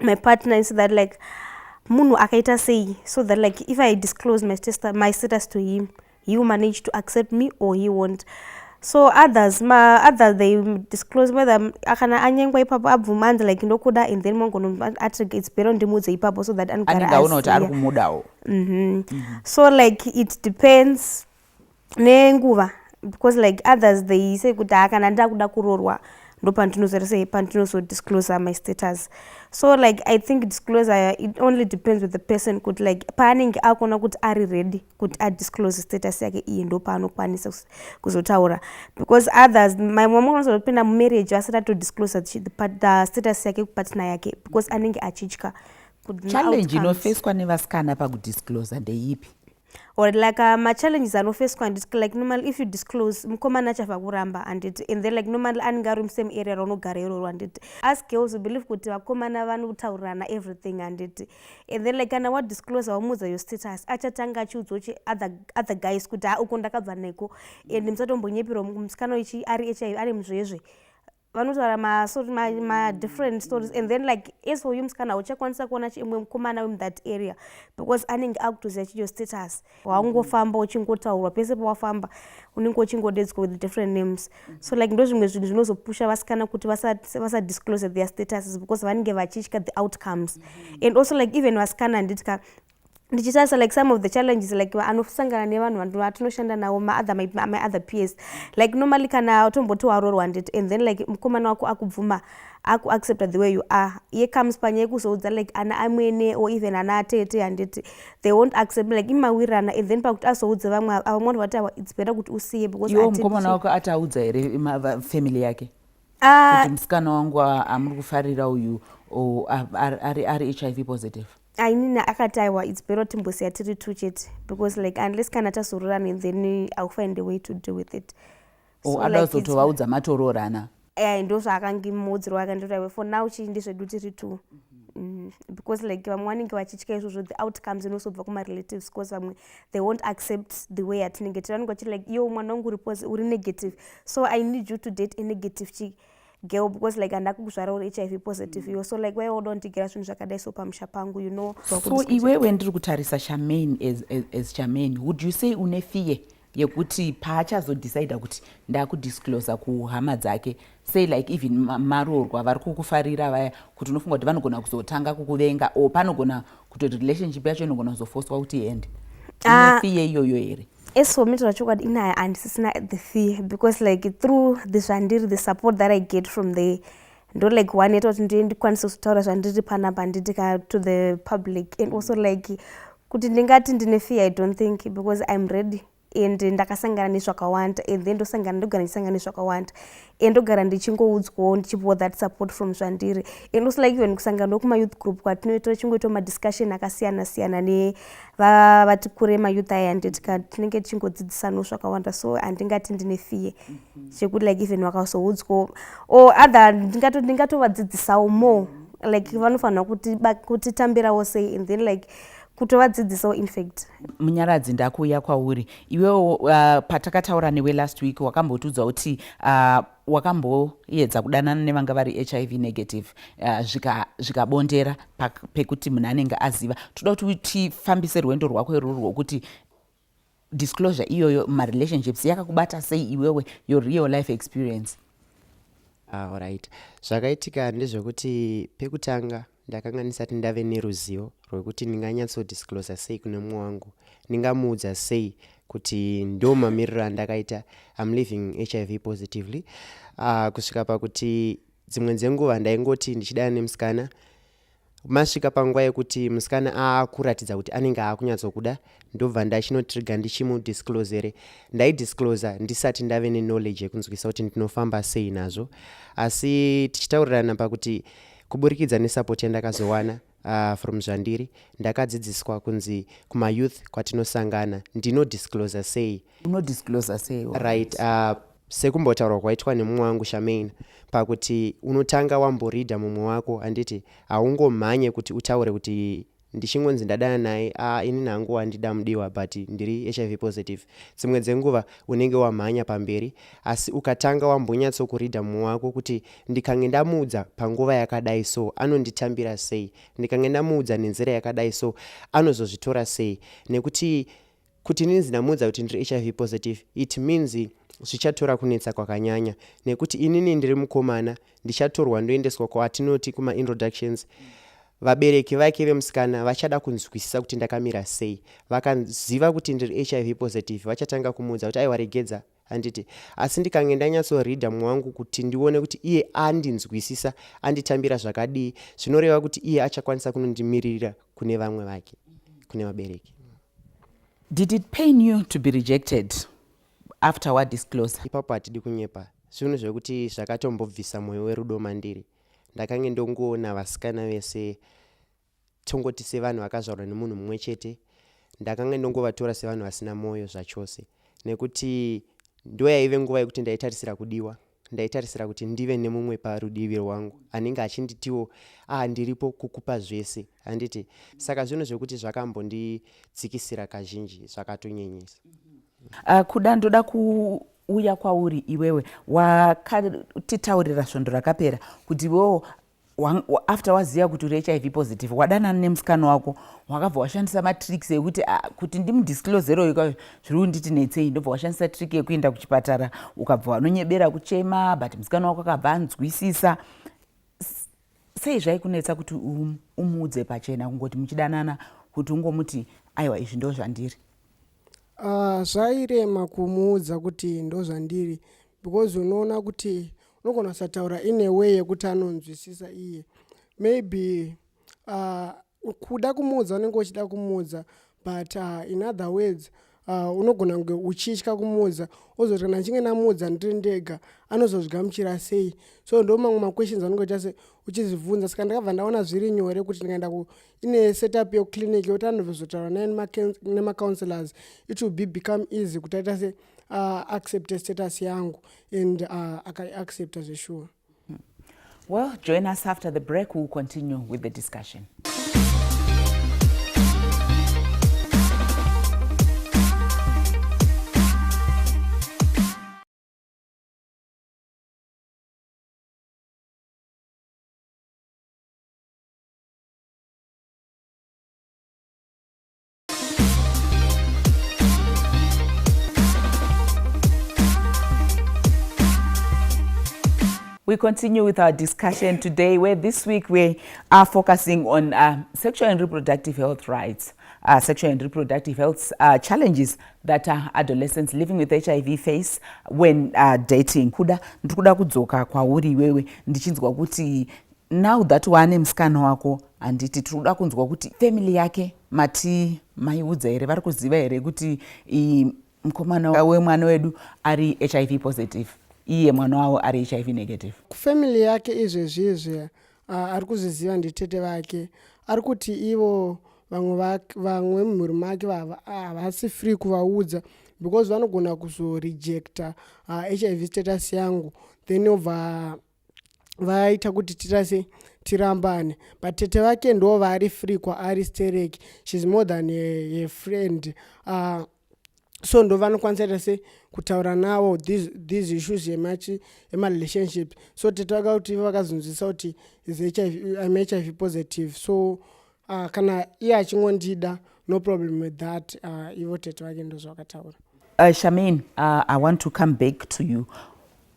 my partner and so that like munhu akaita sei so that like if i disclose my status, my status to him he will manage to accept me or he won't so others ma others they disclose whether akana anyengwa ipapo abvuma anzi like ndokuda and then mongono ati it's better ndimuudze ipapo so that anogara anenge aona kuti ari kumudawo mm-hmm. mm-hmm. so like it depends nenguva because like others they say kuti haa kana ndakuda kurorwa ndo pandinozorese pandinosodiscloser my status so like i think discloser it only depends with the person kuti like paanenge akuona kuti ari ready kuti adisclose status yake iyi ndo paanokwanisa kuzotaura because others mamwe anozotopinda mumarriage asati atodisclose the, the status yake kupatna yake because anenge achitya challenge inofeswa nevasikana pakudiscloser ndeipi or like uh, machallenges anofeswa handiti like normal if you disclose mukomana achava kuramba handiti and then like normal anenge ari musame area raunogara iroro handiti as girls believe kuti vakomana vanotaurirana everything handiti and then like kana wadisclose wamuudza your status achatanga achiudzwa uchi other, other guys kuti ha ah, uko ndakabva neko and musatombonyepirwa musikana ichi ari hiv ari muzvezve vanotaura ma, so, ma, ma different stories and then like as for you musikana hauchakwanisa kuona chimwe mukomana wemu that area because anenge akutoziva chiyo status waungofamba uchingotaurwa pese pawafamba unenge uchingodedzwa with different names so like ndo zvimwe zvinhu zvinozopusha vasikana kuti vasadisclose vasa their statuses because vanenge vachitya the outcomes and also like even vasikana handiti ka ndichisasa like some of the challenges like anosangana nevanhu vatinoshanda navo maother my, my other peers like normally kana utomboti warorwa ndit and then like mukomana wako akubvuma akuaccepta the way you are iye comes panya yekuzoudza like ana amwene or even ana atete handiti they won't accept like imawirana and then pakuti azoudza vamwe ava vamwe vanhu vati awa its better kuti usiye becausmukomana wako ati audza here family yake ah. kuti musikana wangu amuri kufarira uyu ari hiv positive ainini akati aiwa its better timbosiya tiri two chete because like unless kana tazororana and then iwill find the way to deal with it oh, so, ada kuzotovaudza like, matoroorana e ndo zvaakange muudziro wake ndotawe for now chii ndezvedu tiri two mm, because like vamwe vanenge vachitya izvozvo the outcomes inosobva kumarelatives because vamwe they won't accept the way atinenge tiri vanenge vachiti like iyo mwana wangu uripo uri negative so i need you to date a negative chii girl because like handida kukuzvara uri hiv positive mm. iwe so like waiwa uda undigera zvinhu zvakadai so pamusha pangu you know so iwewe ndiri kutarisa chamain as, as, as chamain would you say une fear yekuti paachazodecida kuti ndakudisclosa kuhama dzake say like even maroorwa vari kukufarira vaya kuti unofunga kuti vanogona kuzotanga kukuvenga or panogona kutoti relationship yacho inogona kuzofoswa kuti iende ah. inefiye iyoyo here as for me taura chokwadi inaya handisisina the fear because like through the zvandiri the support that i get from the ndo like one yeta kuti ndiye ndikwanise kutaura zvandiri panapa handitika to the public and also like kuti ndingati ndine fear i don't think because im ready and ndakasangana nezvakawanda and then ndosangana ndogara ndichisangana nezvakawanda and ndogara ndichingoudzwawo ndichipiwa that support from zvandiri and also like even kusangana wekumayouth group kwatinoita tichingoita madiscussion akasiyana siyana nevati kure mayouth aya anditika tinenge tichingodzidzisanawo zvakawanda so handingati ndine fear mhm. chekuti like even vakazoudzwawo or other ndingatovadzidzisawo more like vanofanira kutitambirawo sei and then like kutovadzidzisawo infact munyaradzi ndakuuya kwauri iwewo uh, patakataura newe last week wakambotiudza kuti uh, wakamboedza kudanana nevanga vari hiv negative uh, zvikabondera zvika pekuti munhu anenge aziva toda kuti tifambise rwendo rwako irworwo kuti disclosure iyoyo marelationships yakakubata sei iwewe your real life experience ah, right zvakaitika ndezvekuti pekutanga ndakanga ndisati ndave neruzivo rwekuti ndinganyatsodisclosa sei kune mumwe wangu ndingamuudza sei kuti ndo mamiriro andakaita im living hiv positively uh, kusvika pakuti dzimwe dzenguva ndaingoti ndichidana nemusikana masvika panguva yekuti musikana akuratidza kuti anenge akunyatsokuda ndobva ndachinotriga ndichimudisclosere ndaidisclosa ndisati ndave neknowledge yekunzwisa kuti ndinofamba sei nazvo asi tichitaurirana pakuti kuburikidza nesupport yandakazowana uh, from zvandiri ndakadzidziswa kunzi kumayouth kwatinosangana ndinodisclosa sei unodisclosa sei right uh, Sekumbotaurwa kwaitwa nemumwe wangu Charmaine pakuti unotanga wamboridha mumwe wako handiti haungomhanye kuti utaure kuti ndichingonzi ndadana naye a ah, inini hangu wandida mudiwa but ndiri hiv positive dzimwe dzenguva unenge wamhanya pamberi asi ukatanga wambonyatsokuridha mumwe wako kuti ndikange ndamuudza panguva yakadai so anonditambira sei ndikange ndamuudza nenzira yakadai so anozozvitora sei nekuti Kuti inini ndinamuudza kuti ndiri hiv positive it means zvichatora kunetsa kwakanyanya nekuti inini ndiri mukomana ndichatorwa ndoendeswa kwatinoti kumaintroductions vabereki vake vemusikana vachada kunzwisisa kuti ndakamira sei vakaziva kuti ndiri hiv positive vachatanga kumuudza kuti aiwaregedza handiti asi ndikange ndanyatsoreadha mumwe wangu kuti ndione kuti iye andinzwisisa anditambira zvakadii zvinoreva kuti iye achakwanisa kunondimiririra kune vamwe vake kune vabereki did it pain you to be rejected after wa disclose ipapo hatidi kunyepa zvinhu zvekuti zvakatombobvisa mwoyo werudo mandiri ndakange ndongoona vasikana vese tongoti sevanhu vakazvarwa nemunhu mumwe chete ndakanga ndongovatora sevanhu vasina mwoyo zvachose nekuti ndo yaive nguva yekuti ndaitarisira kudiwa ndaitarisira kuti ndive nemumwe parudivi rwangu anenge achinditiwo ah ndiripo kukupa zvese handiti saka zvinhu zvekuti zvakambondidzikisira kazhinji zvakatonyenyesa uh, kuda ndoda kuuya kwauri iwewe wakatitaurira svondo rakapera kuti iwewo after waziva kuti uri hiv positive wadanana nemusikana wako wakabva washandisa matricks ekuti ah, kuti ndimudisclosero ika zviri kunditi netsei ndobva washandisa trick yekuenda kuchipatara ukabva wanonyebera kuchema but musikana wako akabva anzwisisa sei zvaikunetsa kuti um, umuudze pachena kungoti muchidanana kuti ungomuti aiwa izvi ndo zvandiri ah, zvairema kumuudza kuti ndo zvandiri because unoona kuti unogona kusataura in a way yekuti anonzwisisa iye maybe uh, kuda kumuudza unenge uchida kumuudza but uh, in other words uh, unogona kunge uchitya kumuudza ozoti kana ndichinge ndamuudza ndiri ndega anozozvigamuchira sei so ndo mamwe maquestions anenge uchiita se uchizvibvunza saka ndakabva ndaona zviri nyore kuti ndikaenda ine setup yeclinic yokuti anozotaura naye nemacounselors it will be become easy kuti aita se uh, accepte status yangu and uh, akaiaccepta zveshuwa hmm. well join us after the break will continue with the discussion We continue with our discussion today, where this week we are focusing on uh, sexual and reproductive health rights, uh, sexual and reproductive health uh, challenges that uh, adolescents living with HIV face when uh, dating. Kuda, ndikuda kudzoka kwauri iwewe ndichinzwa kuti Now that waane musikana wako handiti tiri kuda kunzwa kuti family yake mati maiudza here vari kuziva here kuti mukomana wemwana wedu ari hiv positive iye mwana wavo ari hiv negative kufamily yake izvezvi izvi uh, ari kuzviziva nditete vake ari kuti ivo vamwe vamwe mumhuri make vava havasi free kuvaudza because vanogona kuzorejecta uh, hiv status yangu then obva vaita kuti tirase tirambane but tete vake ndo vaari free kwaari sterek shes more than a, a friend uh, so ndo vanokwanisa ita se kutaura navo these, these issues emarelationship so tete vaka kuti vakazonzwisa kuti im hiv positive so uh, kana iye achingondida no problem with that uh, ivo tete vake ndozvakataura uh, shamin uh, i want to come back to you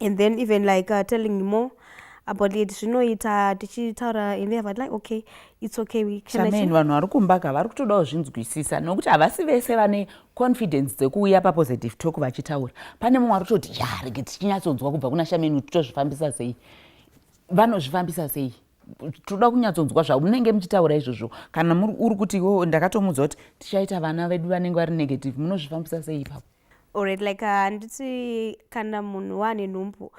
and then even like uh, telling me more about it zvinoita tichitaura and they have like okay it's okay we can achieve vanhu vari kumbaka vari kutodawo zvinzwisisa nokuti havasi vese vane confidence dzekuuya pa positive talk vachitaura pane mumwe ari kutoti ya rege tichinyatsonzwa kubva kuna shameni kuti tozvifambisa sei vanozvifambisa sei toda kunyatsonzwa zvamunenge muchitaura izvozvo kana uri kuti iwo ndakatomuudza kuti tichaita vana vedu vanenge vari negative munozvifambisa sei ipapo Alright, like uh, handiti uh, kana munhu waane nhumbu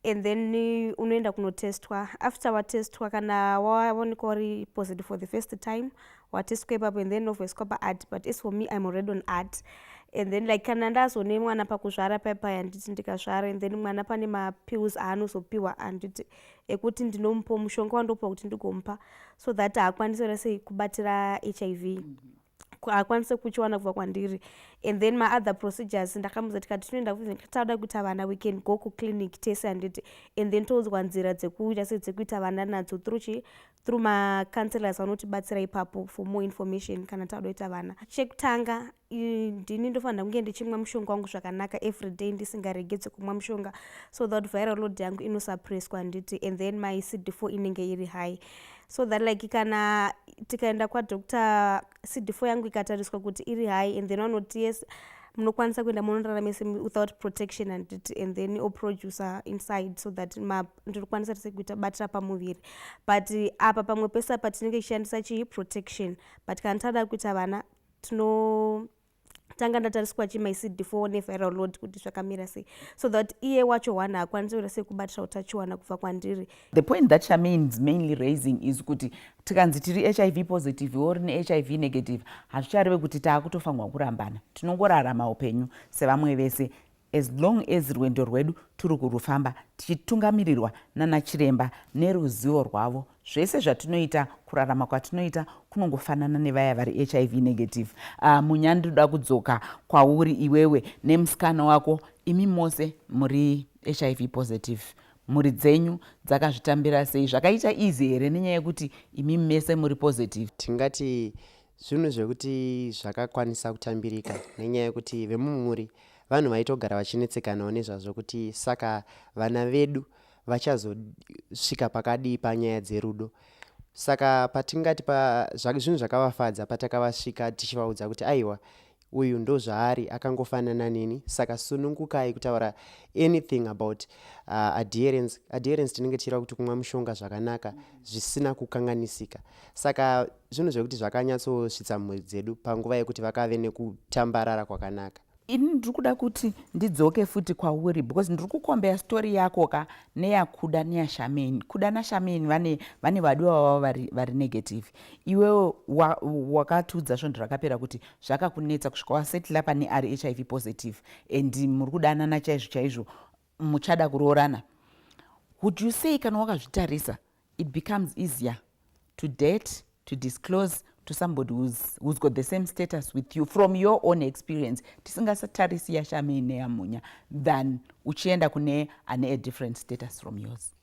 and then uh, unoenda kunotestwa after watestwa kana waonekwa uri positive for the first time watestwa ipapo and then ovoiswa paad but as for me im already on ad and then like kana ndazone mwana pakuzvara paipai handiti ndikazvara and then mwana pane mapills aanozopiwa handiti ekuti ndinomupa mushonga wandopiwa kuti ndigomupa so that haakwanisi rasei kubatira hiv mm -hmm. haakwanise kuchiwana kubva kwandiri and then maother procedures ndakamuza tikati tinoenda tauda kuita vana we can go kuclinic tese handiti and then toudzwa nzira dzekuita se dzekuita vana nadzo through chi through macounselors vanotibatsira ipapo for more information kana tauda kuita vana chekutanga ndini ndofanira kunge ndichimwa mushonga wangu zvakanaka every day ndisingaregedze kumwa mushonga so that viral load yangu inosuppresswa handiti and then my cd4 inenge iri high so that like kana tikaenda kwadoctor cd4 yangu ikatariswa kuti iri high and then vanoti yes munokwanisa kuenda monorara mese without protection and, it, and then oproducer inside so that ndinokwanisa tese kuita batira pamuviri but eh, apa pamwe pese apa tinenge tichishandisa chii protection but kana tada kuita vana tino tanga ndatariswa chi my cd for one viral load kuti zvakamira sei so that iye wacho one haakwanisi kuita sei kubatira utachiwana kubva kwandiri the point that charmaine is mainly raising is kuti tikanzi tiri hiv positive or ne hiv negative hazvichareve kuti taakutofanirwa kurambana tinongorarama upenyu sevamwe vese As long as rwendo rwedu turi kurufamba tichitungamirirwa nana chiremba neruzivo rwavo, zvese zvatinoita, kurarama kwatinoita kunongofanana nevaya vari hiv negative. Uh, munya ndinoda kudzoka kwauri iwewe nemusikana wako, imi mose muri hiv positive mhuri dzenyu dzakazvitambira sei zvakaita easy here nenyaya yekuti imi mese muri positive tingati Zvinhu zvekuti zvakakwanisa kutambirika nenyaya yekuti vemumhuri vanhu vaitogara vachinetsekanawo nezvazvo kuti saka vana vedu vachazosvika pakadii panyaya dzerudo saka patingati pa, zvinhu zvakavafadza patakavasvika tichivaudza kuti aiwa uyu ndozvaari akangofanana neni saka sunungukai kutaura anything about uh, adherence adherence tinenge tichireva kuti kumwa mushonga zvakanaka zvisina kukanganisika saka zvinhu zvekuti zvakanyatsosvitsa mhuri dzedu panguva yekuti vakave nekutambarara kwakanaka ini ndiri kuda kuti ndidzoke futi kwauri because ndiri kukombeya story yako ka neyakuda neyashameni kuda nashameni vane vane vadiwa vavo vari, vari negative iwewo wakatiudza svondo rakapera kuti zvakakunetsa kusvika wasetla pane ari hiv positive and muri kudanana chaizvo chaizvo muchada kuroorana would you say kana wakazvitarisa it becomes easier to date to disclose to somebody who's, who's got the same status with you from your own experience tisingasatarisi yashame ineyamunya than uchienda kune ane a different status from yours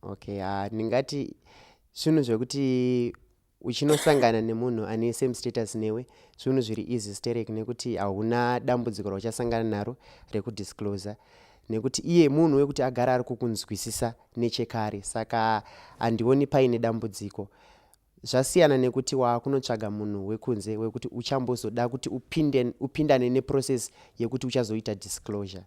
okay uh, ndingati zvinhu zvekuti uchinosangana nemunhu ane same status newe zvinhu zviri easy sterek nekuti hauna dambudziko rauchasangana naro rekudiscloser nekuti iye munhu wekuti agara ari kukunzwisisa nechekare saka handioni paine dambudziko zvasiyana nekuti waakunotsvaga munhu wekunze wekuti uchambozoda kuti upinde, upindane neprocess yekuti uchazoita disclosure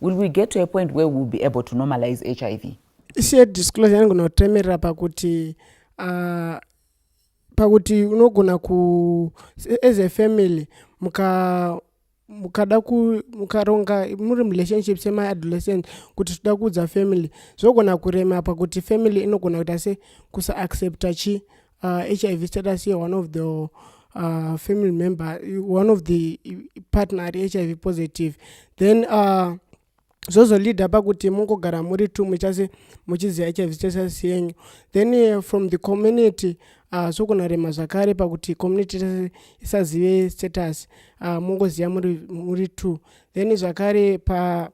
Will we get to a point where we will be able to normalize HIV? Isiye disclosure yangu notemerera pakuti uh, pakuti unogona ku as a family muka mukada mukaronga muri murelationship semaadolescent kuti tida kuudza family zvogona kurema pakuti family inogona kuita se kusaaccepta chi uh, hiv status ye one of the uh, family member one of the partner ari hiv positive then uh, zvozolida pakuti mungogara muri two muchase muchiziva hiv status yenyu then uh, from the community uh, zvokunarema zvakare pakuti community tese isazive status uh, mungoziva muri, muri two then zvakare pa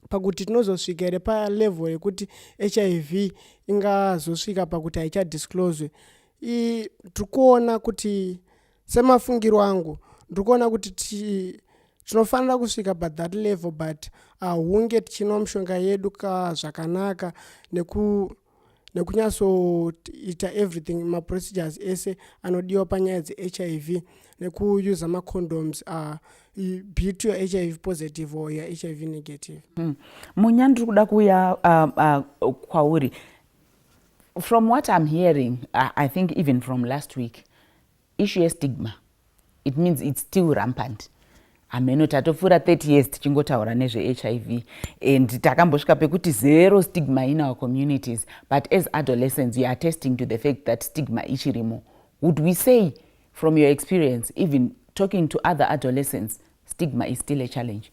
pakuti tinozosvika here palevel yekuti hiv ingazosvika pakuti haichadiscloswe tiri kuona kuti semafungiro angu ndiri kuona kuti tinofanira kusvika pathat level but ahunge tichinomushonga yedu ka zvakanaka neku nekunyatsoita everything maprocedures ese anodiwa panyaya dzehiv nekuuser macondoms uh, be to your hiv positive or your hiv negative hmm. munya mm. ndiri kuda kuuya uh, uh, kwauri from what i'm hearing uh, i think even from last week Issue ye stigma it means it's still rampant hameno tatopfuura 30 years tichingotaura nezvehiv and takambosvika pekuti zero stigma in our communities but as adolescents youare attesting to the fact that stigma ichirimo would we say from your experience even talking to other adolescents stigma is still a challenge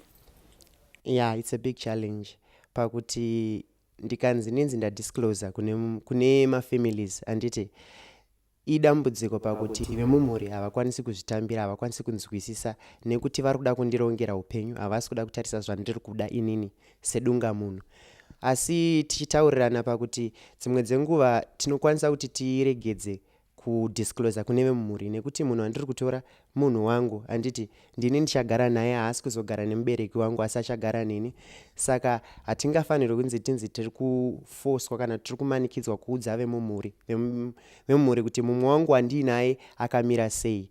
yeah it's a big challenge pakuti ndikanzi ndinzi ndadiscloser kune, kune mafamilies anditi Idambudziko pakuti vemumhuri havakwanisi kuzvitambira, havakwanisi kunzwisisa nekuti vari kuda kundirongera upenyu, havasi kuda kutarisa zvandiri kuda inini sedunga munhu. Asi tichitaurirana pakuti dzimwe dzenguva tinokwanisa kuti tiregedze kudiscloser kune vemumhuri nekuti munhu wandiri kutora munhu wangu handiti ndini ndichagara naye haasi kuzogara nemubereki wangu asi achagara neni saka hatingafanirwi kunzi tinzi tiri kufoswa kana tiri kumanikidzwa kuudza vemumhuri vemumhuri kuti mumwe wangu wandiinaye akamira sei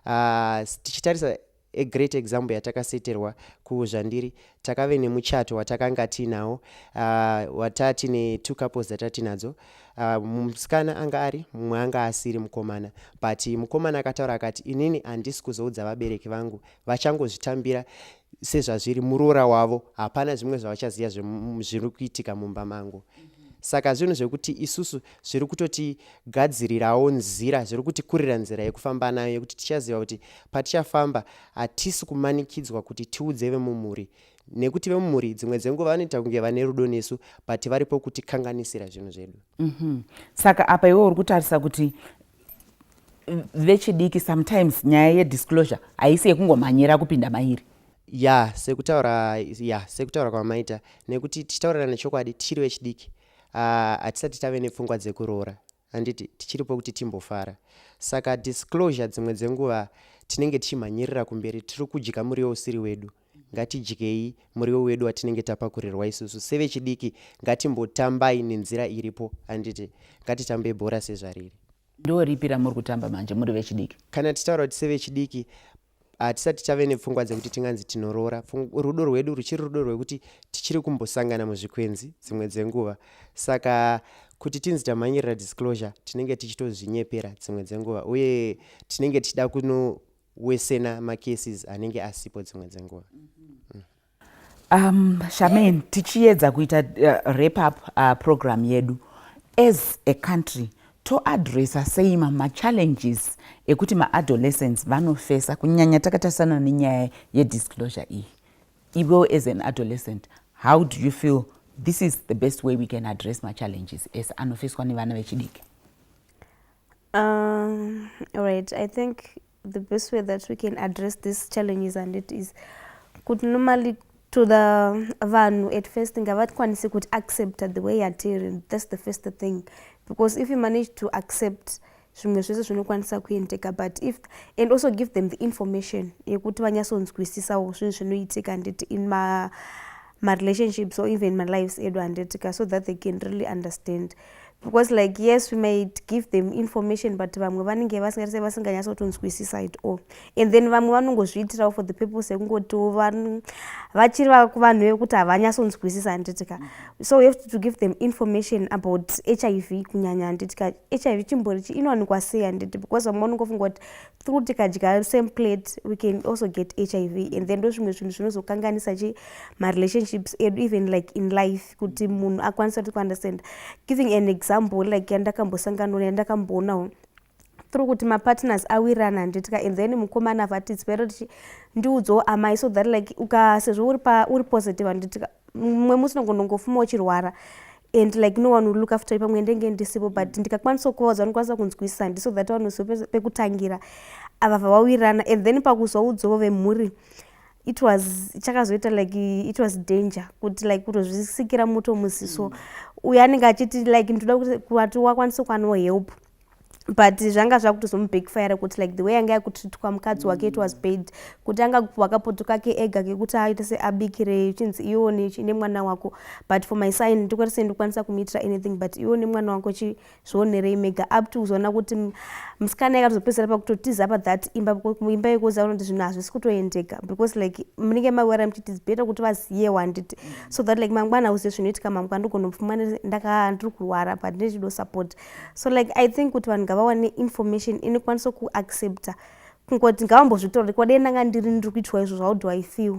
ah, tichitarisa a great example yatakaseterwa kuzvandiri takave nemuchato watakanga tiinawo uh, ah, wataa tine two couples dzataa tinadzo uh, musikana anga ari mumwe anga asiri mukomana but mukomana akataura akati inini handisi kuzoudza vabereki vangu vachangozvitambira sezvazviri muroora wavo hapana zvimwe zvavachaziva zviri kuitika mumba mangu saka zvinhu zvekuti isusu zviri kutotigadzirirawo nzira zviri kutikurira nzira yekufamba nayo yekuti tichaziva kuti patichafamba Hatisi kumanikidzwa kuti tiudze vemumhuri nekuti vemumhuri dzimwe dzenguva vanoita kunge vane rudo nesu but varipo kutikanganisira zvinhu zvedu mm -hmm. saka apa iwe uri kutarisa kuti vechidiki sometimes nyaya yedisclosure haisi yekungomhanyira kupinda mairi ya sekutaura ya sekutaura kwamaita nekuti tichitaurirana chokwadi tichiri vechidiki ah, hatisati uh, tave nepfungwa dzekuroora handiti tichiripo kuti timbofara saka disclosure dzimwe dzenguva tinenge tichimhanyirira kumberi tiri kudya muriwo usiri wedu ngatidyei muriwo wedu watinenge tapakurirwa isusu sevechidiki ngatimbotambai nenzira iripo handiti ngatitambei bhora sezvariri ndoripi ramuri kutamba manje muri vechidiki kana titaura kuti sevechidiki hatisati tave nepfungwa dzekuti tinganzi tinoroora rudo rwedu ruchiri rudo rwekuti tichiri kumbosangana muzvikwenzi dzimwe dzenguva saka kuti tinzi tamhanyirira disclosure tinenge tichitozvinyepera dzimwe dzenguva uye tinenge tichida kunowesena macases anenge asipo dzimwe dzenguva mm -hmm. mm. Um, Charmaine, tichiyedza kuita uh, wrap up uh, program yedu as a country toadressa sei mamachallenges ekuti maadolescents vanofesa kunyanya takatarisana nenyaya yedisclosure iyi iwewo as an adolescent how do you feel this is the best way we can address machallenges as anofeswa nevana vechidiki um, right i think The best way that we can address this challenges and it is kuti normally to the vanhu at first ngavatwanise kuti accepta the way yatiri that's the first thing because if you manage to accept zvimwe zvese zvinokwanisa kuendeka but if and also give them the information yekuti vanyatsonzwisisawo zvinhu zvinoitika handiti in ma marelationships or even malives edu handitika so that they can really understand because like yes we might give them information but vamwe vanenge vasingaise vasinganyatsotonzwisisa it all and then vamwe vanongozviitirawo for the purpose yekungotiwo vachiri vanhu vekuti havanyatsonzwisisa handitika so we have to give them information about hiv kunyanya handitika hiv chimbori chi inowanikwa sei handiti because vamwe vanongofunga kuti through tikadya same plate we can also get hiv and then ndozvimwe zvinhu zvinozokanganisa chi marelationships edu even like in life kuti munhu akwanise kuti kuunderstand giving an example like yandakambosangana nayo yandakamboonawo through kuti mapartners awirana handitika and then mukomana vati zvero tichi ndiudzawo amai so that like uka sezvo uri pa uri positive handitika mumwe musi nongonongofuma uchirwara and like no one will look after you pamwe ndenge ndisipo but ndikakwanisa kuvaudza vanokwanisa kunzwisisa handi so that vanoziva pekutangira ava vawawirana and then pakuzoudzawo vemhuri it was chakazoita like it was danger kuti like kutozvisikira moto muziso mm. uyo anenge achiti like ndoda kuti kuati wakwanisa kwano help but zvanga zvakutozomubackfire kuti like the way anga yakutritwa mukadzi wake it was mm. bad kuti anga kupiwa kapoto kake ega kekuti aite seabikire chinzi iwo nemwana wako but for my sign ndikwatisei ndikwanisa kumuitira anything but iwo nemwana wako zvionerei mega up to kuzoona kuti musikana yakatozopedzera pakutotiza apa that imba imba yekuza unoti zvinhu hazvisi kutoendeka because like munenge mawera muchiti better kuti vaziyewo handiti so that like mangwana uzive zvinoitika mangwana ndigonopfuma ndakaa ndiri kurwara but ndichido support so like i think kuti vanhu ngavawane information inokwanisa kuaccepta kungoti ngavambozvitorore kwadei ndanga ndiri ndiri kuitwa izvo how do i feel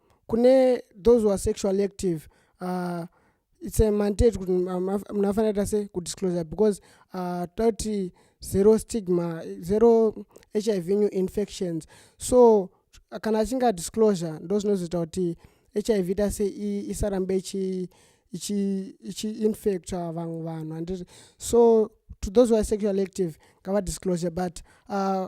kune those who are sexually active uh, it's a mandate kuti munhu afanira ta se kudisclosure because uh, toti zero stigma zero hiv new infections so kana achinge adisclosure ndo zvinozoita kuti hiv ta se isarambe ichi ichiinfecta vamwe vanhu anditi so to those who are sexual active ngavadisclosure but uh,